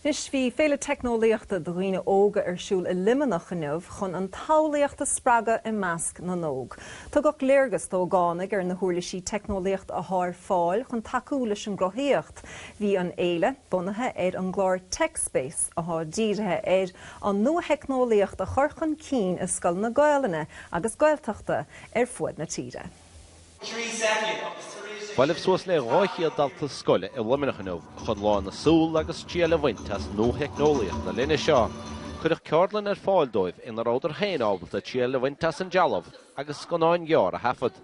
Anois, bhí Féile Teicneolaíochta do dhaoine óga ar siúl i Luimneach inniu chun an tsamhlaíocht a spreagadh i measc na n-óg. Tugadh léargas d'ógánaigh ar na huirlisí teicneolaíochta athá ar fáil chun tacú leis an gcruthaíocht. Bhí an fhéile bunaithe ar an gclár TechSpace athá dírithe ar an nuatheicneolaíocht a chur chun cinn i scoileanna Gaolainne agus Gaeltachta ar fuaid na tíre. Bhailigh suas le 200 dalta scoile i Luimneach inniu chun lán na súl agus triail a bhaint as nuatheicneolaíocht na linne seo. Cuireadh ceardlann ar fáil dóibh ina rabhadar féin ábalta triail a bhaint as an trealamh agus scannán gearr a thaifead.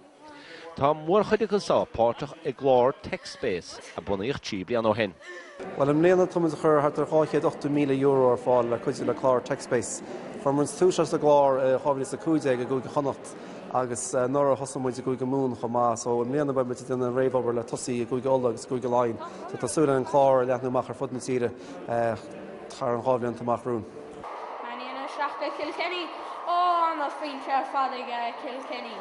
Tá mórchuid acu seo páirteach i gclár TechSpace a bunaíodh trí bliana ó shin. Bhuel, i mbliana tá muid ag cur thart ar €280,000 ar fáil le cuidiú le clár TechSpace. Chuir muid tús leis an gclár i 2015 i gCúige Chonnacht agus anuraidh thosaigh muid i gCúige Mumhan chomh maith so i mbliana beidh muid ag déanamh réamhobair le tosú i gCúige Uladh agus i gCúige Laighean so tá súil againn an clár a leathnú amach ar fud na tíre thar an dhá bhlianta amach romhainn. Man United 7 Kilkenny, Oh, I'm a faint fell fad aige Kilkenny.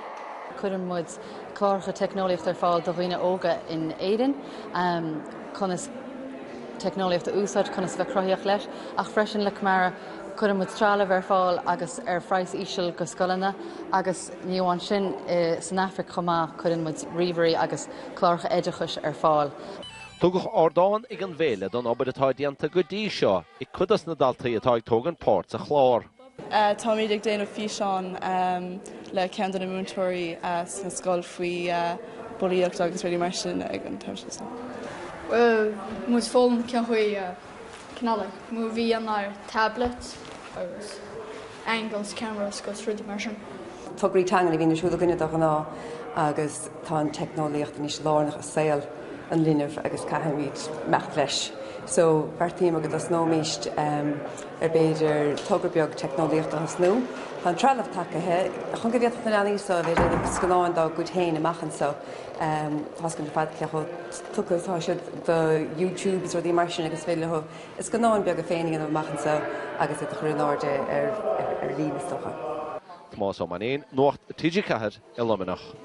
Cuireann muid cláracha teicneolaíochta ar fáil do dhaoine óga in Éirinn, conas teicneolaíocht a úsáid, conas bheith cruthaíoch leis, ach freisin le Camara cuireann muid trealamh ar fáil agus ar phraghas íseal go scoileanna agus ní amháin sin san Afraic chomh maith cuireann muid ríomhairí agus cláracha oideachais ar fáil. Tugadh ardán ag an bhféile don obair atá déanta go dtí seo ag cuid dos na daltaí atá ag tógaint páirt sa chlár. Táimid ag déanamh físeán le ceann de na múinteoirí sa scoil faoi bulaíocht agus rudaí mar sin ag an taobh seo so. Muid foghlaim cén chaoi a cineáil like, movie, an tablet agus. angles, cameras agus, rudaí mar sin. tograí teangan a bhíonn ar siúl againne de ghnáth agus tá an teicneolaíocht anois lárnach i saol an linbh agus caithfimid imeacht leis. So beartaíomar go dtosnóimíst ar b'fhéidir togra beag teicneolaíochta a thosnú. Tá an trealamh tagtha chun go bhféadfadh na leanaí so a bheith ag déanamh scannáin dá gcuid féin amach anseo. Tá a fhios againn ar fad cé chomh tugtha atá siad do YouTube is rudaí mar sin agus féidir leo scannáin beaga féin a dhéanamh amach anseo agus iad a chur in airde ar líne is dócha. Tomás Ó Mainnín, Nuacht TG4 i Luimneach.